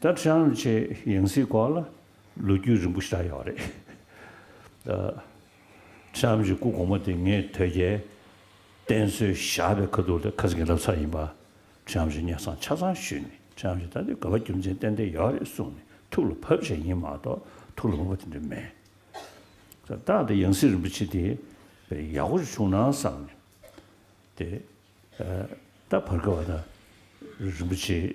ད་ཁྲེང་ལི་ཆའི་ཡང་སྲིད་སྐོར་ལ་ལོ་རྒྱུས་རིང་པོ་ཞིག་གྲགས་ཡོད་རེད། ཁྲེང་ལི་ཆའི་སྐུ་གོང་མ་དེ་ངས་དོལ་རྒྱལ་བསྟེན་གསོལ་བཞག་པའི་ཁ་ཐུག་ལས་ཁ་ཟིག་རབས་ཚ་ཡིན་པ། ཁྲེང་ལི་ཆའི་གཉེན་བསང་ཆ་ཚང་ཞུས་ནས་ཁྲེང་ལི་ཆ་ད་ལྟའི་ག་བ་རྒྱུ་མཚན་ཏན་ཏན་ཡོད་རེད་གསུངས་ནས་ཐུགས་ལ་བབས་བྱས་ཡིན་མ་གཏོགས་ཐུགས་ལ་བབས་པ་དེ་འདྲ་མེད། ད་ལྟ་ཡང་སྲིད་རིན་པོ་ཆེ་དེ་བས་ཡག་པོ་ཞིག་བྱུང་ན་བསམ་ནས་དེ་ད་བར་ག་བ་ད་རིན་པོ་ཆེའི་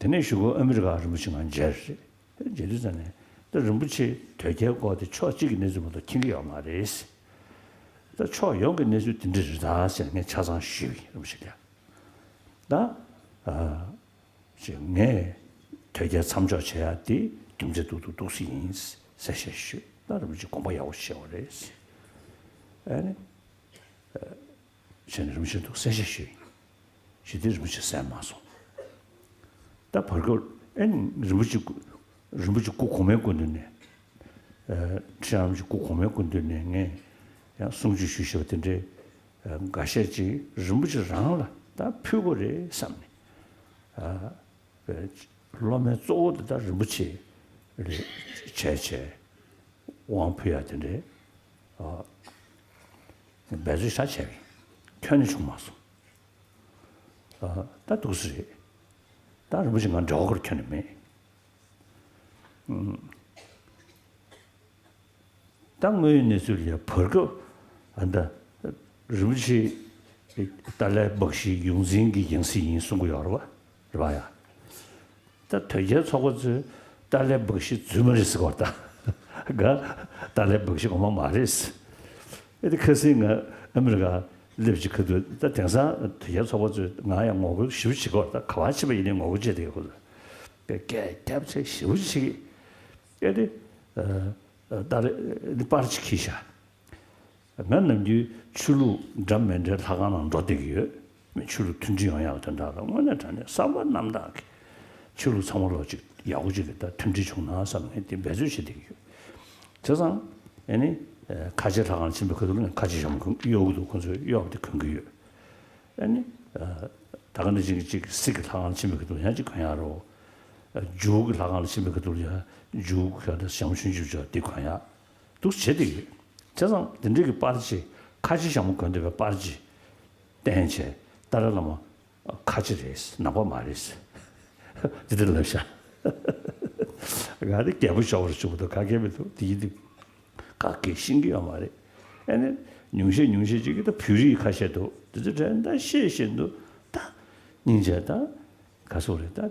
དེ་ནས་བཞུགས་སྒར་ཨ་མི་རི་ཀ་རིན་པོ་ཆེ་ངང་མཇལ་དུས་མཇལ་དུས་ཙམ་ནས་ད་རིན་པོ་ཆེས་དོལ་རྒྱལ་སྐོར་དེ་ཕྱོགས་གཅིག་གི་གནས་ཚུལ་མ་གཏོགས་མཁྱེན་གྱི་ཡོད་མ་རེད། ད་ཕྱོགས་ཡོངས་ཀྱི་གནས་ཚུལ་དེ་འདྲ་རེད་ད་ཟེར་ངས་ཆ་ཚང་ཞུས་ཀྱི་ཡིན་རིན་པོ་ཆེ་ལགས། ད། ཅེས་ངས་དོལ་རྒྱལ་མཚམས་འཇོག་བྱེད་ཡ་དེ་རྒྱུ་མཚན་སྡུག་ཏུ་འདུག་སྲིད་ཡིན་ཟེར་བཤད་ཞུས་ད་རིན་པོ་ཆེས་དགོངས་པ་ཡག་པོ་བཞེས་བ་རེད། བྱས་ནས་རིན་པོ་ཆེ་འདུག་གསལ་བཤད་ཞུས། ཞུས་དེ་རིན་པོ་ཆེ་གསལ་མ་སོང། ད་བར་སྐབས་ཨེ་རིན་པོ་ཆེ་སྐུ་རིན་པོ་ཆེ་སྐུ་གོང་མའི་སྐུ་མདུན་ནས། ཁྲི་རམ་ཆེན་སྐུ་གོང་མའི་སྐུ་མདུན་ནས་ངས་ཡང་གསུང་ཆོས་ཞུས་ཞེས་པ་དེ་འདྲའི་འགའ་ཤས་ཅིག་རིན་པོ་ཆེ་རང་ལ་ད་ཕུལ་དགོས་རེད་བསམ་ནས། སློབ་མའི་གཙོ་བོ་དེ་ད་རིན་པོ་ཆེ་རེད་བྱས་བྱས་དབང་ཕུལ་ཡ་དེ་འདྲའི། འབད་རྩོལ་ཤ་ཆེ་བས་ཁྱོད་ནི་བྱུང་མ་སོང། ད་དུག་སེ་རེད། ད་རིན་པོ་ཆེ་ང་འདྲ་བོ་ཁར་ཁྱོད་ནི་མེད། ད་དངོས་ཡོད་གནས་ཚུལ་ལས་བར་སྐབས་ད་རིན་པོ་ཆེ་ཏཱ་ལའི་སྦག་ཞིའི་ཡོངས་འཛིན་གྱི་ཡང་སྲིད་ཡིན་གསུང་གི་ཡོད་རེད་བ། རེད་ཡ། ད་དོལ་རྒྱལ་ཚོགས་པ་ཚོས་ཏཱ་ལའི་འབག་བཞི་རྫུན་མ་རེད་ཟེར་བ་དང། ག་ཏཱ་ལའི་འབག་བཞི་ངོ་མ་མ་རེད་ཟེར། ད་ཁ་སིང་ང་ཨ་མི་རི་ཀ་སླེབས་རྗེས་ཁ་ཐུག་ད་དེང་སང་དོལ་རྒྱལ་ཚོགས་པ་ཚོས་ང་ཡང་ངོ་རྒོལ་ཞིབ་བྱེད་དགོས་ད་ག་བ་བྱེད་པ་ཡིན་ནའི་ངོ་རྒོལ་བྱེད་དེ་ཡོད་ཁུལ་པའི་སྐད་སྐྱབས་ཚེ་ཞིབ་བྱེད་ཀྱི་ཨེ་རེད། ཏཱ་ལའི་པར་གྱི་ཁྱི་ཤ་ང་ནམ་རྒྱུན་ཆོས་ལུགས་འདྲ་མི་འདྲའི་ལྷ་ཁང་ནང་འགྲོ་བསྡད་ཀྱི་ཡོད། ཆོས་ལུགས་མཐུན་སྒྲིལ་ཡོང་ཡག་དོན་དག་ལ་དངོས་གནས་དྲང་གནས་བསམ་པ་རྣམ་དག་གིས་ཆོས་ལུགས་ཚང་མ་ལོ་གཅིག་ཡར་སྒོ་གཅིག་གི་ལྟར་མཐུན་སྒྲིལ་བྱུང་ན་བསམ་ངས་དེ་འབད་རྩོལ་བྱེད་བསྡད་ཀྱི་ཡོད། དེ་བཟང། ཨེ་ནི། ཁ་ཆེ་ལྷ་ཁང་ཆེན་པོའི་ཁ་ཐུག་ནས་ཁ་ཆེ་ཞྭ་མོ་གཡོག་གི་འདུག་ཁོང་ཚོས་གཡོག་དེ་གོན་གྱི་ཡོད། ཨེ་ནི། ད་ག་འདྲ་གཅིག་གིས་གཅིག་གི་སྲིད་ཀྱི་ལྷ་ཁང་ཆེན་པོའི་ཁ་ཐུག་ཡང་གཅིག་གོན་ཡག་རོ། འཇུག་གི་ལྷ་ཁང་ཆེན་པོའི་ཁ་ཐུག་ལ་ཡང་འཇུག་གི་ཞྭ་མོ་ཆུང་གཅིག་བཅོ་བདེ་གོན་ཡག། འདུག་བྱེད་ཀྱི་ཡོད། དེ་ཙམ་དེ་འབྲེལ་གྱི་པར་ཆས་ཁ་ཆེ་ཞང་མོ་དགོན་སྡེ་བའི་པར་ཆས་བསྟན་བྱས་ཏཱ་ར་བླ་མ་ཁ་ཆེ་རེད་ནག་པ་མ་རེད་ཟེར། དེ་འདྲ་ལབ་ཤག། ག་དེ་རྒད་པོ་ཤོར་བྱུང་འདུག་ག་གེ་མི་འདུག་དེ་ཡིན་དུས། ག་གེ་ཤིང་གི་ཡོད་མ་རེད། ཨེ་ནས་ཉུང་ཤས་ཉུང་ཤས་ཅིག་གིས་ད་བོད་རིགས་ཁ་ཤས་འདུག་དེ་ཚོས་དྲན་ད་ཤེས་ཤེས་འདུག་ད། སྙིང་རྗེ་ད། ག་སོག་རེད་ད།